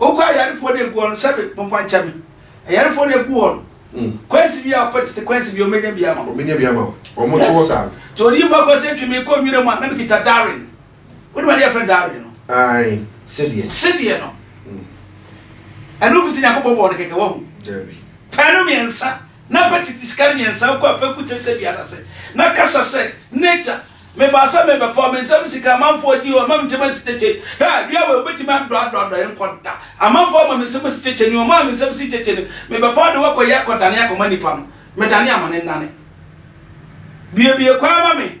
Wokɔ ayarefoɔ na egu wɔn sɛbi mo mfa nkyɛ me ayarefoɔ na egu wɔn hmm. kwansi bi a ɔpɛ tete kwansi bi ɔmenya bi ama ɔmenya bi ama wɔn to wɔ saa. Nti odiyifo akɔ sɛ twemi kɔ nwira mu a na mi kita Darwin wodi ma ne yɛ fɛ Darwin no. Ayi sedeɛ. Sedeɛ no hmm. ɛnu fi si nyakopɔ bɔ ɔno kɛkɛ wahu. Pɛnu mmiɛnsa Na fa tete sika no mmiɛnsa kura fekuw tenten biara ase, na kasa sɛ, 'Nature, mebaa sɛ merebɛfa wo. Me nsam sika a amanfoɔ adi yi, wɔama me nkyem asi kyekyɛ yi. Hwɛ! Dua wei, wobɛtumi adɔadɔadɔ yɛn kɔ da. Amanfoɔ ama me nsam asi kyekyɛ ni, wɔmaa me nsam asi kyekyɛ ni. Mebɛfa wo de wo akɔyɛ akɔdane akɔma nnipa no. Medane amane nnane. Buebue kwan ma me.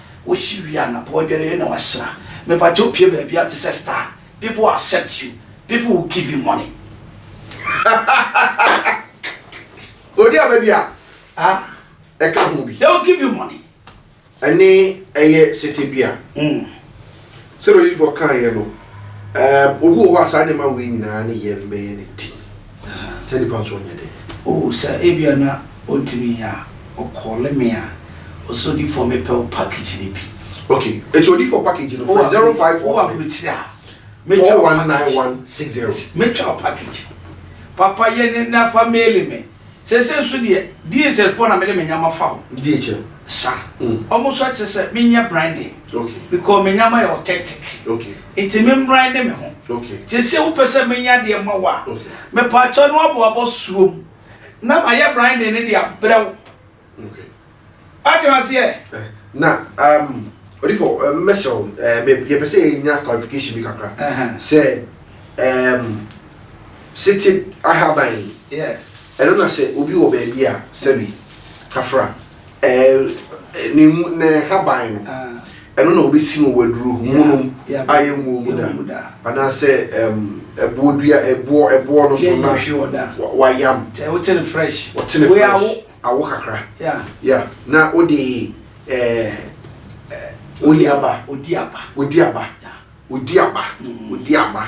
Wosi wie a na po adware yɛ na wahyira. Mepakyɛw pue baabiara te sɛ star. People will accept you. People will give you money. Odi aba bi a Ah, ɛka ho bi. they will give you money. Ɛne ɛyɛ sete bi a. Mm. Sɛdeɛ odiyifoɔ kaeɛ no, um, obi wɔ hɔ a saa nneɛma wei nyinaa ne yɛn bɛyɛ ne ti. Saa nipa nso ɔnyɛ dɛ. Oh, sɛ ebia na ɔntumi nyɛ a, ɔkɔɔle me a, ɔsɛ odiyifoɔ mepɛ wo package no bi. Ok, nti odiyifoɔ package no, frɛ zero five four three. Wowɔ aburokyire a, mɛtwa wo package. Mɛtwa wo package. Papa yɛ ne na fa maili me. Seesei nso deɛ, DHL foɔ na mede me nneɛma fa hɔ. DHL? Sa. Wɔn nso akyerɛ sɛ menyɛ branding. Okay. Because me nneɛma yɛ authentic. Okay. Nti me mbrande me ho. Okay. Nti seesei wopɛ sɛ menya adeɛ ma wo a, Okay. mepaakyɛw na woabɔ abɔ suom na mayɛ branding no de abrɛ wo Wate aseɛ? Na um, odifo um, mɛsrɛ wo, um, yɛpɛ sɛ yɛnya clarification bi kakra sɛ um, seated ahaban yi, ɛno na sɛ obi wɔ baabi a sɛbi kafra, um, ne mu, ne haban no. ɛno na wɔbɛsi no wɔ aduro monom a yɛnwuo mu da anaasɛ ɛboɔ dua ɛboɔ ɛboɔ no so na wayam wɔtene fresh wɔtene fresh awo kakra ya na wode ɛɛ ɔdi aba ɔdi aba Odi aba, odi aba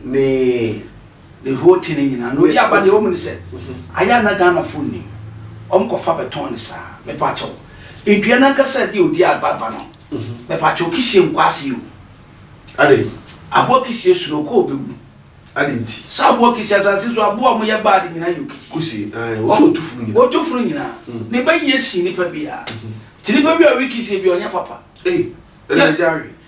ne. Ne whole thing nyinaa no odi aba deɛ wɔn mu ne sɛ ayɛ a na Ghana fo nnim wɔn kɔ fa bɛ tɔn ne saa me pa kyɛw edua nankasa deɛ odi aba aba no me pa kyɛw kisie nkɔ ase o. Ade. Aboa kisie soro kɔ ɔbɛ wu. Ade nti. Saa aboa kisie asase so aboa wɔn yɛ bad nyinaa yɛ okisie. Kusie ayi wɔn so otu funu nyinaa. Otu funu nyinaa ne bɛ yie si nipa bi a ti nipa bi a ɔwi kisie bi ɔnyɛ papa. Ee ɛna ɛdi awi.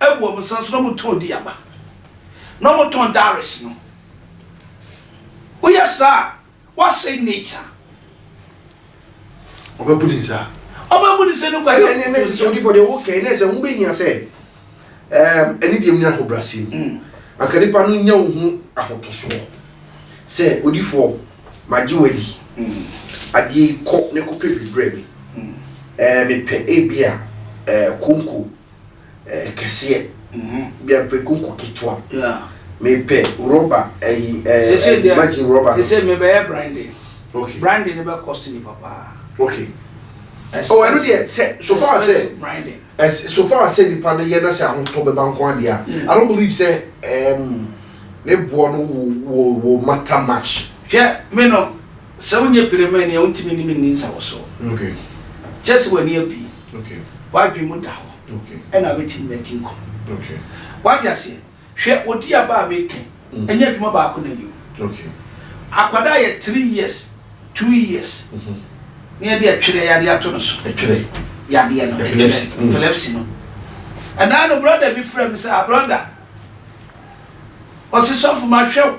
Abu wɔn nsa so na wɔtɔn di aba, na wɔtɔn dowries no. Woyɛ saa a, woasɛe nature. Ɔbɛbu ne nsa. Ɔbɛbu ne nsa no kwa sɛ. Ɛnɛ ɛnɛ sisi odiifo deɛ ɔwɔ kɛn ɛnɛ sɛ ho bɛ hia sɛ ɛɛm ɛne deɛ mu ne ahobrasi mu. Mm. Anka nipa no nya wo ho ahotosoɔ sɛ odiifo magye wadi. Mm. Adeɛ yi kɔ ne kɔpɛ biribrɛ mi. Mm. Ɛɛ mepɛ ebi a ɛɛ konko Kɛseɛ bi a pɛ konko ketewa. Me pɛ rubber ayi ɛɛ imagine rubber. Sɛ sɛ me bɛ yɛ brandy. Okay. Brandy ne bɛ cost ni papa. Okay. Oh ɛno deɛ sɛ so far sɛ. Brandy. Ɛs so far sɛ nipa no yɛ na sɛ ahotɔ bɛ ba nko adeɛ a. Mm. I don't believe sɛ ɛɛm ne boɔ no wo wo wo matter much. Hwɛ me no. Sɛ wonyɛ piremani a, wontumi ne me nni nsawɔsoɔ. Kyerɛ sɛ w'ani abue, w'adwene mu da hɔ, ɛnna wobɛtumi ne me adi nkɔmmɔ. Woate aseɛ? Hwɛ odi aba a mereka yi, ɛnyɛ adwuma baako na ɛyɛ o. Akwadaa yɛ three years, two years, na yɛde ɛtwerɛ yadeɛ ato no so. Ɛtwerɛ yadeɛ no, ɛtwerɛ, epilepsy no. Ɛnna no brɔda bi frɛɛ me sɛ, Ah brɔda, ɔse, Sɔfo, mahwɛ wo.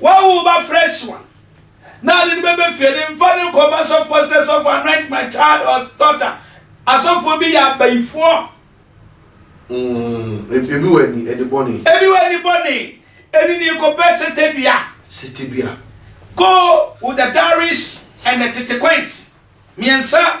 Wawo wo ba fresh one na ade no bɛbɛ fie de mfa no nkɔ ma sɔfoɔ sɛ sɔfoɔ anoint my child or daughter asɔfoɔ bi yɛ abayifoɔ mm, ebi wɔ ani ani bɔne ebi wɔ ani bɔne ɛni ni kɔpɛ sete dua sete dua go with the dowries and the tete coins mmiɛnsa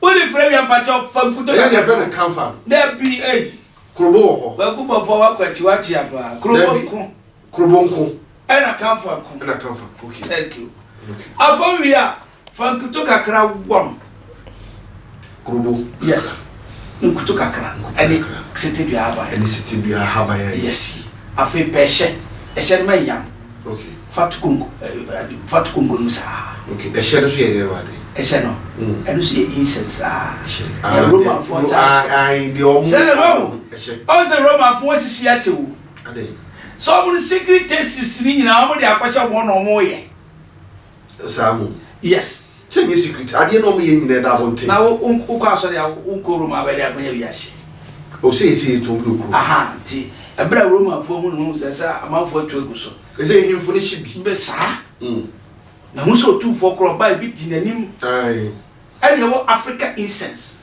Wode frɛ wia mpakyɛw fa nkuto kakra. Ɛyɛ deɛ fɛ no kanfa no. Dabi ei. Krobo wɔ hɔ. Kwaku bɔfoɔ wakɔ akyi wakye apaa. Krobo nko. Krobo nko. Ɛna kanfa nko. Ɛna kanfa nko okay. Thank you. Okay. Afɔ wia fa nkuto kakra wɔ no. Krobo. Yes. Nkuto kakra. Ɛne sete dua ahaban. Ɛne sete dua ahaban. Yes. Afei pɛ ɛhyɛ ɛhyɛ no ma nyam. Okay. Fa to konko ɛɛ fa to konko no mu saa. Okay. Ɛhyɛ no so yɛ dɛ wade. Ɛhyɛ no. Mm. Ɛno so yɛ incense saa. Ɛhyɛ. Na Romanfoɔ taa hyɛ. Ah, ah, deɛ ɔmo. Sɛ no. Ɛhyɛ. Ɔn sɛ Romanfoɔ sisi ate wo. Ade. Sɛ ɔmo no secret tastes ni nyinaa ɔmo de akɔhyɛ wɔn na ɔmo yɛ. Saa mo. Yes. Sɛ nyɛ secret adeɛ na ɔmo yɛ nyinaa ɛda abɔnten. Na wo wo kɔ asɔre a wo nkɔ Rome a bɛde akɔnya wiase. O sɛ yɛsɛ yɛtu obi wɔ kurom. Aha nti ɛbrɛ a Romanfoɔ hu ne ho sɛ sɛ amanfoɔ atu agu so. Ɛsɛ nhemfo no hye bi. Bɛ saa. Na hu sɛ otumfoɔ korɔ ɔbaa ebi di n'anim. Ae. Ɛne ɛwɔ Africa incense.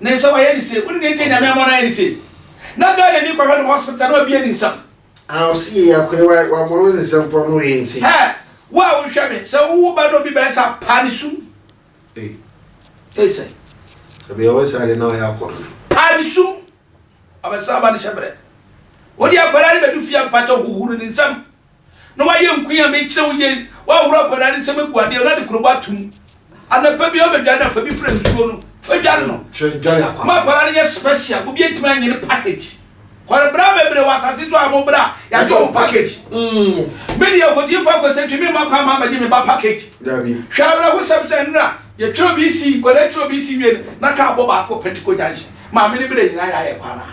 Ne nsɛm ayɛ ne se. Wo ne no ntie Nyame ama no ayɛ ne se. Na Ghana ni kɔhwɛ no hospital na ɔbia ni nsɛm. Ah ɔse yɛ ya kore wa wa moro ne nsɛm pɔ no yɛ ne se. Hɛ wo a wo hwɛ me sɛ wo wo ba na obi bɛɛ sa pa ne sum. Ei. Ei sɛ. Sɛ bɛyɛ wo saa deɛ na wayɛ akɔ dodo. Pa ne sum. Ɔbɛsa aba ne hyɛ brɛ. Wo deɛ akwadaa no bɛdu fie a mpakyɛw huhuru ne nsɛm. Na wayɛ nku a mekyerɛ wo yei, woahoro akwadaa no nsam agu adeɛ na ɔde kurobo ato mu. Anɔpa biara ɔbɛdware no a, fa bi fra nsuo no, fa dware no. Ma akwadaa no nyɛ special, obi antumi annye no package. Kɔre bra bebree wɔ asase so a mo bra yɛagye wɔn package. Me deɛ ɔkɔtiefo akɔsɛntwi memma kwan ma mmɛgye me ba package. Hwɛ awerɛhosɛm sɛ nnora yɛtwerɛ obi si, nkwadaa twerɛ obi si wie no, na kaa bɔ baako Pentecost Junction. Maame no berɛ nyinaa yɛ ayɛ kɔ anaa?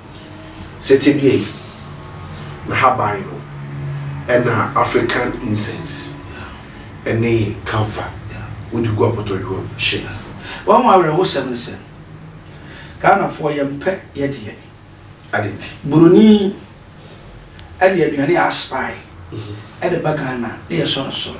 Sɛ tebea yi, n'ahaban no na African incense ne camphor wode gu apɔtɔyowa mu hye. Wahu awerɛhosɛm ne sɛ, Ghanafoɔ yɛmpɛ yɛ deɛ. Adɛn nti? Buroni de aduane a aspire de ba Ghana na yɛsɔ no soro.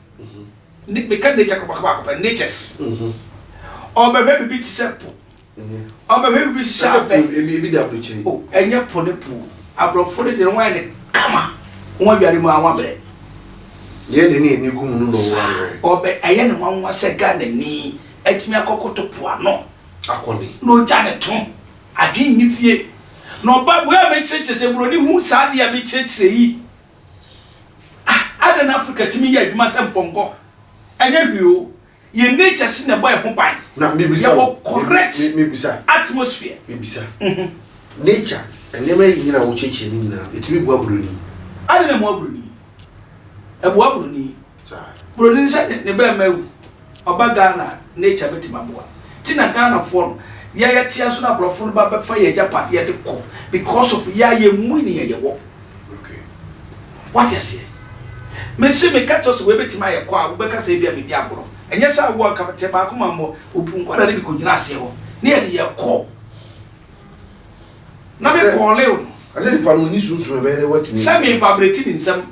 ne meka nature kɔbaka baako pɛ natures ɔbɛhwɛ biribi te sɛ po ɔbɛhwɛ biribi te sɛ abɛ ebi da aburukyiri o ɛnyɛ po ne po aborɔfo ne deɛ wɔn ayɛ ne kama wɔn awiare mu a wɔn abrɛ yɛ de ne ani gu mu no na wɔn abrɛ ɔbɛ ɛyɛ ne nwanwa sɛ ghana ni atumi akɔkoto po ano akɔne na ɔgya ne to adwene nni fie na ɔba bua a mekyerɛkyerɛ sɛ buroni hu saa adeɛ a mekyerɛkyerɛ yi Ah, adɛn na Afrika tumi yɛ adwuma sɛ mpɔnkɔ? Ɛnyɛ hwee o, yɛn natures na ɛbɔ yɛn ho ban. Na mebisa wo, Yɛwɔ correct me, me, mebisa, atmosphere. mebisa, Mhm. nature, nneɛma yi nyina a wokyerɛkyerɛ no nyinaa, ɛtumi boa buroni? Adɛn na ɛmoa buroni? Ɛboa buroni. Saa. Buroni no sɛ ne bɛɛma awu ɔba Ghana a nature bɛtumi aboa nti na Ghanafoɔ no yɛ yɛ teɛ nso na abrɔfo no ba bɛfa yɛ agyapadeɛ de kɔ because of yɛ a yɛ mmui neɛ yɛ wɔ wate aseɛ me se me ka kyerɛ wo sɛ wei bɛtumi ayɛ kɔ a wo bɛka sɛ ebia me di agorɔ ɛnyɛ sɛ awoɔ nka me te baako ma mmɔ obu nkwadaa no bi kɔ gyina aseɛ hɔ ne yɛ de yɛ kɔ na me kɔɔleo no. Sɛ me nfa breti me nsam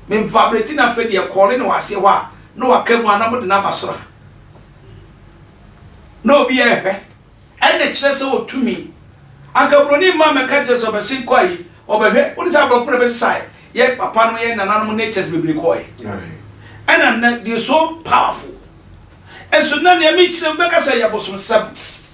Me mfa abrɛti no afei deɛ kɔɔle na waseɛ hɔ a na waka mu a na mode no aba soro ha na obi yɛ ɛhwɛ ɛnna kyerɛ sɛ wɔ tumi anka buroni mma mɛka kyerɛ sɛ ɔbɛse nkɔ ayi ɔbɛhwɛ wode sɛ aborɔfo na bɛsesae yɛ papa no yɛ nananom natures bebree kɔɔɛ ɛna nnɛ deɛ so powerful ɛso na nea mekyerɛ bɛka sɛ yɛ bosomsɛm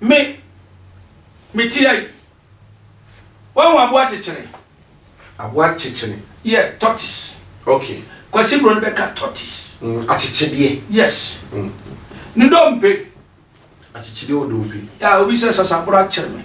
Me, mete ha yi. Wahu aboa kyekyere? Aboa kyekyere? Yes, tortoise. Okay. Kwasi Bro no bɛka tortoise. Mm, akyekyedeɛ. Yes. Mm. Ne dompe. Akyekyedeɛ wɔ dompe. Ya, obi sɛ sasaboro akyere me.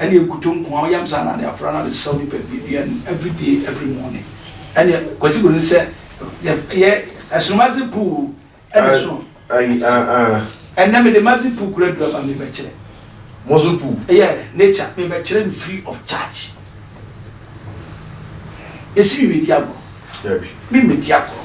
ɛne nkutoo nkoaa ɔyam saa na ade afra na ade sɛw nipa dua no everyday every morning ɛne Kwasi Broni sɛ yɛ ɛsono mazi puu ɛne ɛsono ayi ah ah ɛnɛ mede mazi puu kura dua ba mebɛkyerɛ mozo puu ɛyɛ nature mebɛkyerɛ no free of charge yɛsi mi medi agorɔ dabi mi medi agorɔ.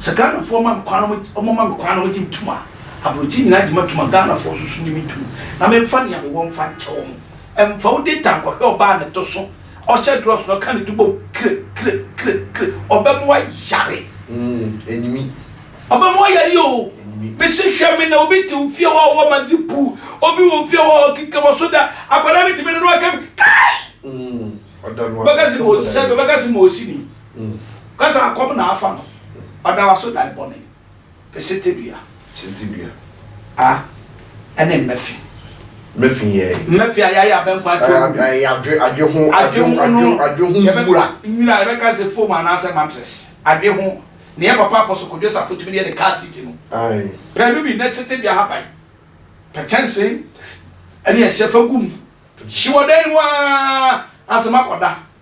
Sɛ Ghanafoɔ ma me kwan na wɔn ma me kwan na wɔn gye me tum a, abrɔkyi nyinaa gye ma tum a Ghanafoɔ nso so gye me tum na me nfa nea me wɔ nfa nkyɛ wɔn. Nfa wo data nkɔhwɛ ɔbaa a ne to so, ɔhyɛ drɔs na ɔka ne to bom kre kre kre kre, ɔbɛ ma wayare. Enimi. Ɔbɛ ma wayare oo. Enimi. Me se hwɛ me na obi te wo fie hɔ a ɔwɔ mazi puu, obi wɔ fie hɔ a ɔkeka wɔ so da, akwadaa bi te me na na waka me, kai! Ɔda no a. Ɔbɛka se ma ɔsi sɛ, ɔbɛka se ma ɔsi ni. Ka saa, Kɔm na afa no. Ɔda w'aso dan bɔne. Pe sete dua. Sete dua. A ɛne mmɛ fi. Mmɛ fi yɛ. Mmɛ fi a yɛayɛ abɛnkɔ adwe ho. Ɛ yɛ adwe adwe ho. Adwe ho no. Adwe ho nwura. Nwura yɛbɛka sɛ foam anaasɛ mattress. Adwe ho. Nea Papa Apɔso Kojo Safo tumi de yɛ ne car seat no. Ae. Pɛ no bi, ne sete dua haban. Pɛ kyɛnsee ne ɛhyɛ fa gu mu. Hye wɔ dan mu aa, na sɛ makɔda.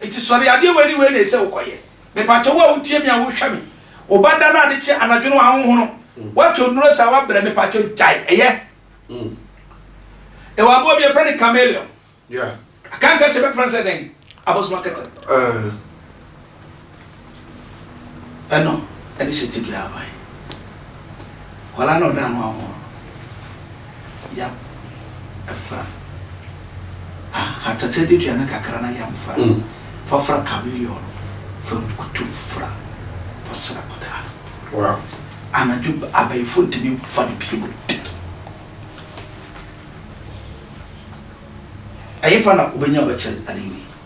Enti sɔre, adeɛ wei ne wei na ɛsɛ wokɔyɛ. Mepakyɛ wo a wotie me a wohwɛ me, wo ba da no ade kye anadwo no wahohono, woatɔ nnuro saa wabrɛ, mepakyɛ gyae, ɛyɛ. Yɛwɔ aboa bi yɛfrɛ no chameleon. Akanka hyɛ bɛfrɛ no sɛ dɛn? Abosom akɛtɛ. Ɛno de hyɛ tebea ara kwan. Nkwadaa na ɔda ano ahorow no, yam fra. Ahatatɛdidua no kakra na yam fra. Fa fra chameleon no, fa nkutu fra, fa sra akwadaa no. Wow. Anadwo abayifo ntumi mfa no bio da. Ɛhefa na wobenya bɛkyɛ ade yi?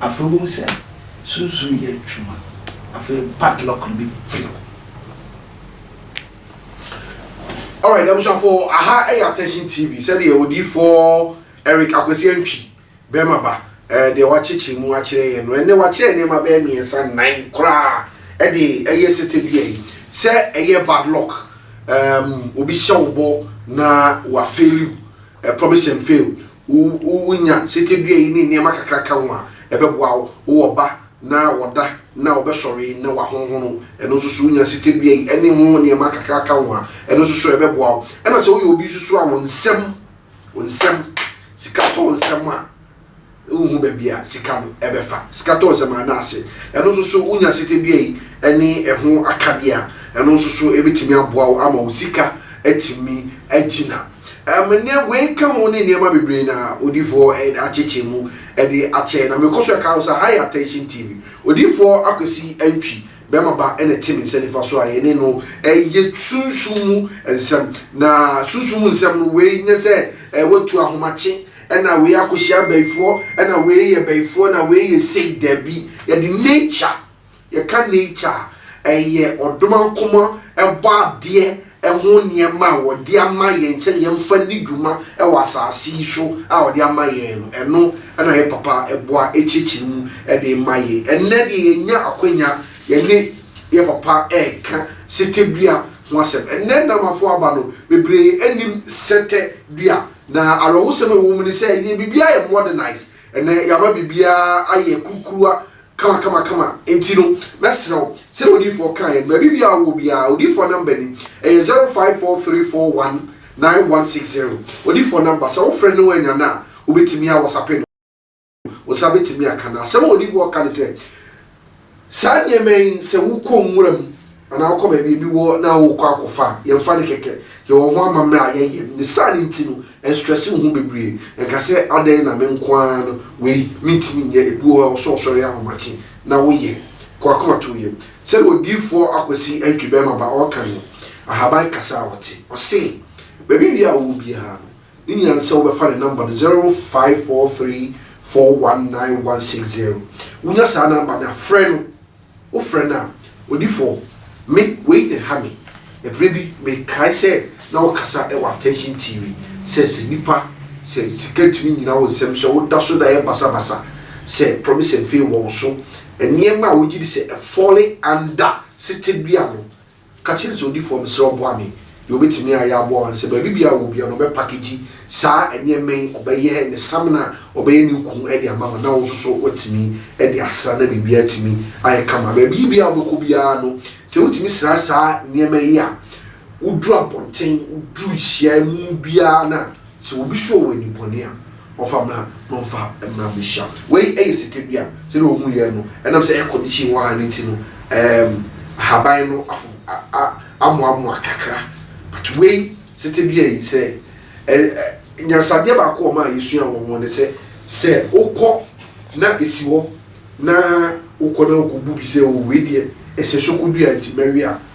Afei wohu sɛ sunsum reyɛ adwuma. Afei padlock no befiri hɔ. Alright, abusuafo, aha yɛ Attention TV, sɛdeɛ Odiyifoɔ Eric Akwasi Antwi, Bɛrima Ba, deɛ wɔakyekyere mu akyerɛ yɛn no. Ɛnnɛ wɔakyerɛ nneɛma bɛyɛ mmiɛnsa, nnan koraa de ɛyɛ sete dua yi. Sɛ ɛyɛ bad luck, obi hyɛ wo bɔ na wafeeli wo, A promise and fail, Wo wo nya sete dua yi ne nneɛma kakra ka ho a, ɛbɛboa wo. Wo wɔ ba na ɔda na ɔbɛsɔre na wahonhono, ɛno nso so, wo nya sete dua yi ne ho nneɛma kakra ka ho a, ɛno nso so, ɛbɛboa wo. Ɛna sɛ woyɛ obi nso so a, wo nsam, wo nsam, sika tɔ wo nsam a, Wonhu baabi a sika no bɛfa. Sika tɔ nsɛm anaa ase. Ɛno nso so wonya sete dua yi ne ɛho akadeɛ a, ɛno nso so ɛbɛtumi aboa wo ama wo sika atumi agyina. Ɛm, nea wei ka ho ne nneɛma bebree na Odiyifoɔ akyekyɛ mu de akyɛ yɛn. Na mekɔ so ɛka ho sɛ, ha yɛ Attention TV. Odiyifoɔ Akwasi Antwi Bɛma Ba na ɛte me nsa nifa so a yɛne no reyɛ sunsum mu nsɛm. Na sunsum mu nsɛm no, wei nyɛ sɛ woatu ahomakye. na wei akɔhyia abayifoɔ na wei yɛ bayifoɔ na wei yɛ sei dabi yɛde nature yɛka nature a ɛyɛ ɔdomankoma ɛbɔ adeɛ ɛho nneɛma a wɔde ama yɛn sɛ yɛmfa ni dwuma ɛwɔ asase yi so a wɔde ama yɛn no ɛno ɛna yɛ papa ɛboa ɛkyerɛkyerɛ mu ɛde ma yɛ ɛnɛ deɛ yɛnya akwanya yɛne yɛ papa ɛka sɛtɛ dua ho asɛm ɛnɛ namafo aba no bebree anim sɛtɛ dua Na awerɛhosɛm a ɛwɔ mu ne sɛ yɛn biribiara ayɛ modernized, ɛnnɛ yɛama biribiara ayɛ kurukuruwa kamakamakama, enti no mɛsrɛ wo sɛdeɛ odiyifoɔ kaeɛ no, baabi biara a wowɔ biara, odiyifoɔ number ni, ɛyɛ zero five four three four one nine one six zero, odiyifoɔ number, sɛ wofrɛ no annya no a, wobɛtumi a Whatsapp no. Wo nsa betumi aka no. Asɛm a olive oil ka ne sɛ, Saa nneɛma yi, sɛ wokɔ nwura mu anaa wokɔ baabi a ebi wɔ na worekɔ akɔfa a, yɛmfa no kɛkɛ. Yɛwɔ ho amammerɛ a yɛyɛ. Ne saa no nti no, ɛnstrɛse wo ho bebree. Ɛnka sɛ, 'Adɛn na me nko ara no wei mintumi nyɛ? Ebi wɔ hɔ a, ɛwɔ sɛ wosɔre yɛ ahomakye na woyɛ. Kɔ akomatɔyam. Sɛnea odiyifo Akwasi Antwi Bɛmaba ɔreka no, ahaban kasa a ɔte. Ɔse, Baabi wia a ɔwɔ biara no, Ne nyinaa no sɛ wobɛfa ne number no zero five four three four one nine one six zero wonya saa number no a frɛ no wofrɛ no a odifoɔ me wei na ɛha me ɛberɛ bi mekae sɛ na wokasa wɔ attention TV sɛ sɛ nipa sɛ sika tumi nyina wo nsɛm sɛ woda so da yɛ basa basa sɛ promise and fail wɔ wo so nneɛma a wogye di sɛ ɛfɔle anda setedua no Ka kyere kyerɛwdifoɔ mesrɛ wo boa me deɛ ɔbɛtumi ayɛ aboa wo ne sɛ baabi biara ɔwɔ biara no ɔbɛ package saa nneɛma yi ɔbɛyɛ ne samina ɔbɛyɛ ne nku de ama wo na wo nso so watumi de asra na biribiara atumi ayɛ kama baabi biara ɔbɛkɔ biara no sɛ wotumi sra saa nneɛma yi a woduru abɔnten woduru hyia mu biara no a Sɛ obi sɔ wo ani bɔne a, ɔfa mmra na ɔmfa mmra mmɛhyia wo. Wei yɛ sika bi a, sɛdeɛ wɔn yɛ no, ɛnam sɛ air condition wɔ ha no nti no, ɛɛm, ahaban no afo, a, a, amoamoa kakra. But wei, sete dua yi, sɛ, ɛ, ɛ, nyansadeɛ baako a wɔn a yɛsua wɔ ho ne sɛ, sɛ wokɔ na ɛsi hɔ na wokɔ na wokɔbu bi sɛ, o, wei deɛ, ɛsɛ sɛ wokɔdua nti mɛwe a,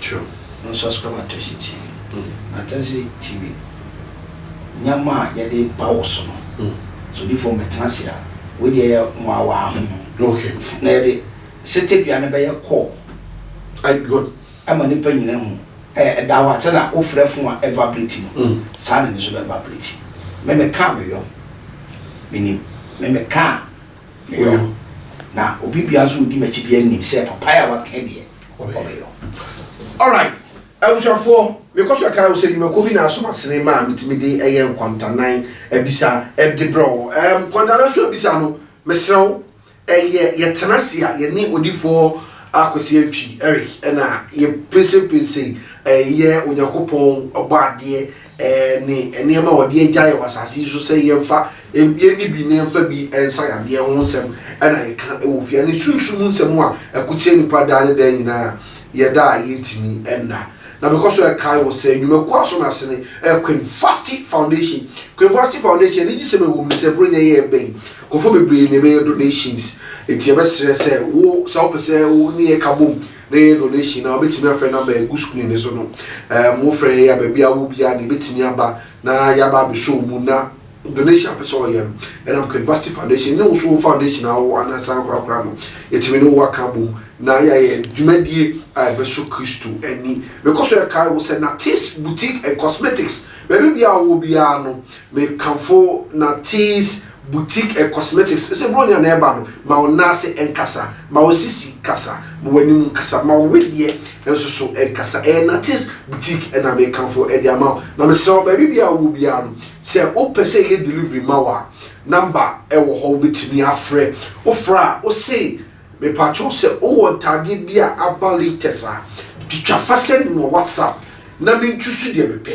True. Me subscribe Atɛsi TV. Atɛsi TV nneɛma a yɛde ba wo so no sɛ odiifo no bɛtena ase a wei deɛ yɛ nwawaa ho no. Okay. Na yɛde setedua no bɛyɛ call. Ayi good. Ɛma nipa nyina hu. Ɛɛ ɛda hɔ a sɛnea wofrɛ phone a ɛ vibrate no saa na ɛno nso bɛ vibrate. Me me kaa me yɔm. Me nim. Me me kaa me yɔm. Na obi biara nso ɔdi m'akyi biara nim sɛ papaye a waka deɛ. ɔbɛyɛ no alright abusuafoɔ mekɔ so ɛka wo sɛ nnwumakuo bi na asom asene ma a metumi de ɛyɛ nkwantanan abisa ɛde brɛ wo um, nkwantanan so abisa no mesrɛ wo ɛyɛ yɛtena se a yɛne odifoɔ akwasi atwi eric ɛna yɛpinsinpinsin ɛyɛ onyankopɔn ɔbɔ adeɛ ne nneɛma a wɔde agya yɛn wɔ asase yi so sɛ yɛmfa yɛnni bi na yɛmfa bi nsa yadeɛ ho nsɛm na yɛka wɔ fie ne sunsum nsɛm a ɛkokyerɛ nnipa daa ne daa nyinaa yɛda a yɛntumi nna na mekɔ so ɛkae wɔ sɛ nnwumakuo aso no ase ne ɛyɛ Queen Vashti Foundation Queen Vashti Foundation ne gyesɛm ɛwɔ mu sɛ buro nyɛ yɛ ɛbɛn kɔfo bebree na ɛbɛyɛ donations ɛti ɛbɛsrɛ sɛ wo sɛ wopɛ sɛ wo ne yɛ ka bom Ne donation a wobɛtumi afrɛ number a ɛgu screen no so no. Um, wofrɛ yɛn a baabi a wowɔ biara na yɛbɛtumi aba na yɛaba abɛsɔ wo mu na donation a wopɛ sɛ ɔyɛ no ɛnam Canvasty Foundation ne wo so wo foundation a wowɔ anaasɛ ankorakora no, yɛtumi ne wo aka abom na yɛayɛ dwumadie a ɛbɛsɔ Kristo ani. Mekɔ so ɛkae wo sɛ Natees Boutique and Cosmetics, baabi biara a wowɔ biara no, Mekamfo na Tease Boutique and Cosmetics sɛ Buronya na ɛba no, ma wo nan ase nkasa, ma wo sisi kasa, ma w'anim nkasa, ma wo wedeɛ nso so nkasa. Ɛyɛ na Tease Boutique na mekamfo de ama wo. Na mesrɛ wo, baabi biara a wowɔ biara no, sɛ wopɛ sɛ yɛyɛ delivery ma wo a, number wɔ hɔ wobɛtumi afrɛ. Wofrɛ a, wose Mepakyɛw sɛ wowɔ ntaadeɛ bi a aba latest a, twitwa fa send me wɔ WhatsApp na me nchusu deɛ me pɛ.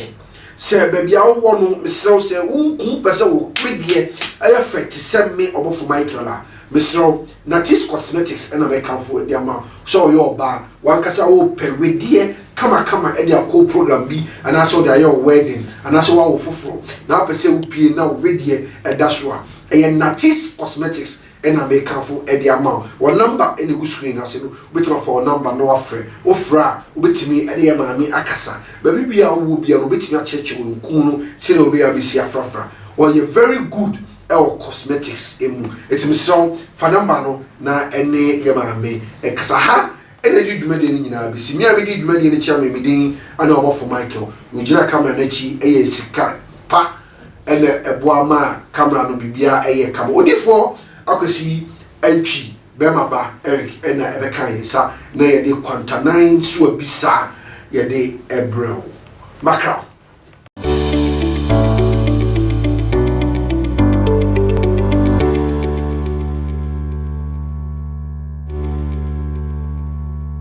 Sɛ baabi a wowɔ no, mesrɛ wo sɛ wo nku wo pɛ sɛ wo me deɛ ɛyɛ fɛ te sɛ me ɔbɔfo Michael a, mesrɛ wo, Natis Cosmetics na me kamfo de ama wo. Sɛ ɔyɛ ɔbaa, w'ankasa wo pɛ wedeɛ kamakama de akɔ program bi anaasɛ wode ayɛ wo wedding anaasɛ woawo foforɔ na wopɛ sɛ wo pie na wo wedeɛ da so a, ɛyɛ Natis Cosmetics na mekamfo de ama wo. Wɔn number na ɛgu screen no ase no, wobɛtumi afa wɔn number na woafrɛ. Wofrɛ a, wobɛtumi de yɛn maame akasa. Baabi biara a wowɔ biara no, wɔbɛtumi akyerɛkyerɛ wo nkum no sɛdeɛ wobɛyɛ a bɛsi afrafra. Wɔyɛ very good wɔ cosmetics mu. Nti mesrɛ wo, fa number no na ne yɛn maame nkasa. Ha na yɛde dwumadie no nyinaa bɛsi. Me a medi dwumadie no akyi a me me din ne Ɔbɔfo Michael. Deɛ ɔgyina camera no akyi yɛ sika pa. na ɛboa ma camera no biribiara yɛ kama. Odiyifoɔ Akwasi Antwi bɛrima ba Eric na ɛbɛka yɛn nsa na yɛde kwantanan so abisa yɛde ɛbrɛ wo. Mackerel.